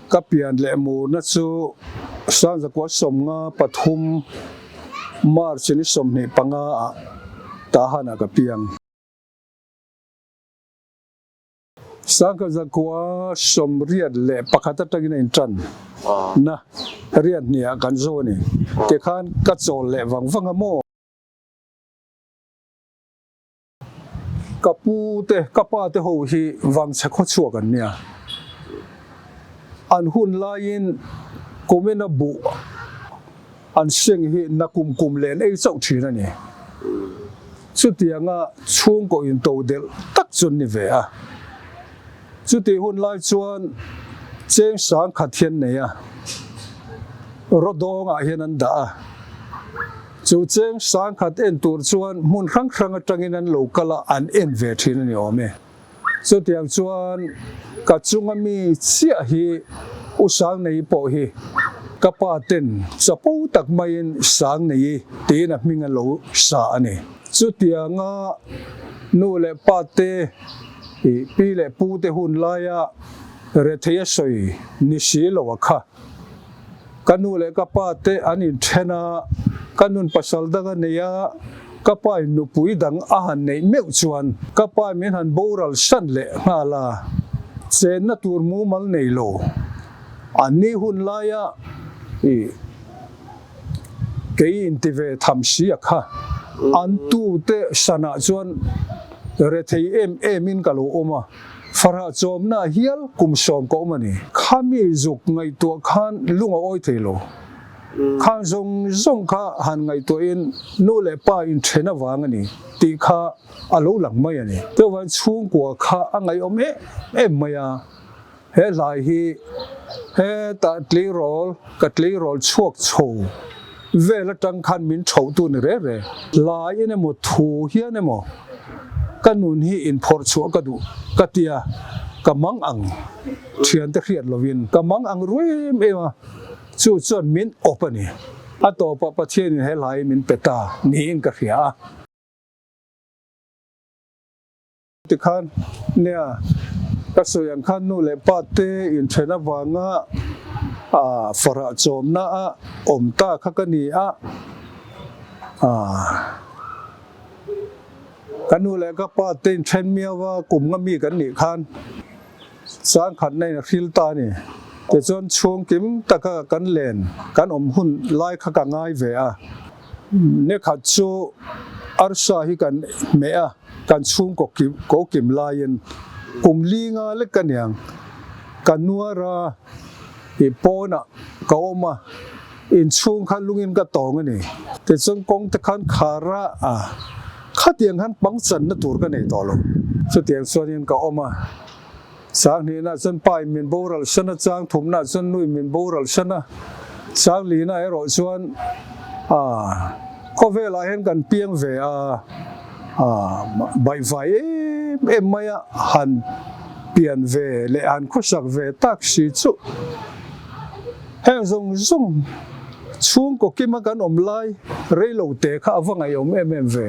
Ka pian leh murna chu Sanzakual sawmnga pathum March ni sawmhnih panga ah Tahan ah ka piang. Sangha zakua sawmriat leh pakhat atangin a intan na riat hnih ah kan zo a ni ti khan ka chawl leh vang vang a maw? Ka pu te ka pa te ho hi vangchhe khaw chhuak an nia, an hun laiin kum in a buh. An siang hi na kum kum len ei chauh thin a ni. Chutiang a chhungkaw in to delh tak chu an ni ve a. Chutih hun lai chuan cheng sang khat hi an nei a, rawdawng ah hian an dah a. Chu cheng sang khat en tur chuan hmun hrang hrang atangin an lo kal a, an en ve thin a ni awm e. Chutiang chuan ka chunga mi chiah hi U Sangnei pawh hi ka pa ten chapo tak maiin Sangnei tiin a hming a lo sa a ni. Chutianga nu leh pa te, pi leh pu te hun laia rethei a sawi ni si lo a kha. Ka nu leh ka pa te an inthen a, ka nun pasal dang a nei a, ka pa in nupui dang a han neih meuh chuan ka pa min han boral san leh nghal a, chenna tur mumal nei lo. An ni hun laia i kei in ti ve tham si a kha. An tu te sanah chuan rethei em em in ka lo awm a. Farha chawmna a hial kum sawm ka awm a ni. Khami zuk ngaihtuah khan lung a awi thei lo. Khang zawng zawng kha han ngaihtuah in nu leh pa in then avang a ni tih kha a lo lang mai a ni. Chuvang in chhungkua kha a ngaihawm em em mai a. He hlai hi he tah tleirawl ka tleirawl chhuak chho. Vel atang khan min chhoh tu ni reh reh. Lai in emaw thu hian emaw ka nun hi inphawrh chhuah ka duh ka ti a, ka mang ang thian te hriat lo in ka mang ang ruih em em a, chu chuan min awp a ni. A tawp ah Pathian in he hlai hi min pe ta niin ka hria a. Tikhan nia ka sawi ang kha nu leh pa te inthen avanga farah chawmna a awm ta kha ka ni a, ka nu leh ka pa te inthen miau a kum nga mi kan nih khan changkhatna in a hril ta a ni. Tichuan chhungkim taka kan len kan awm hun lai kha ka ngai ve a. Ni khat chu Arsa hi kan hmeh a, kan chhung ko kim laiin kum linga lek a niang. Ka nuar a, i pawnah ka awm a, inchhung kha lungin ka tawng a ni. Tichuan kawngte khan khar a, khatiang khan pangchanna tur ka nei tawh lo. Chutiang chuan in ka awm a. Sanghnihna chuan Pain min boral hran a, chang thumna chuan Nui min boral hran a, Changlina erawh chuan aah khawvelah hian kan piang ve a, aah baihfai em em mai a, han pian ve leh han khawsak ve tak si chuh. Heng zawng zawng chhungkaw kima kan awm lai reilo te kha a va ngaihawm em em ve.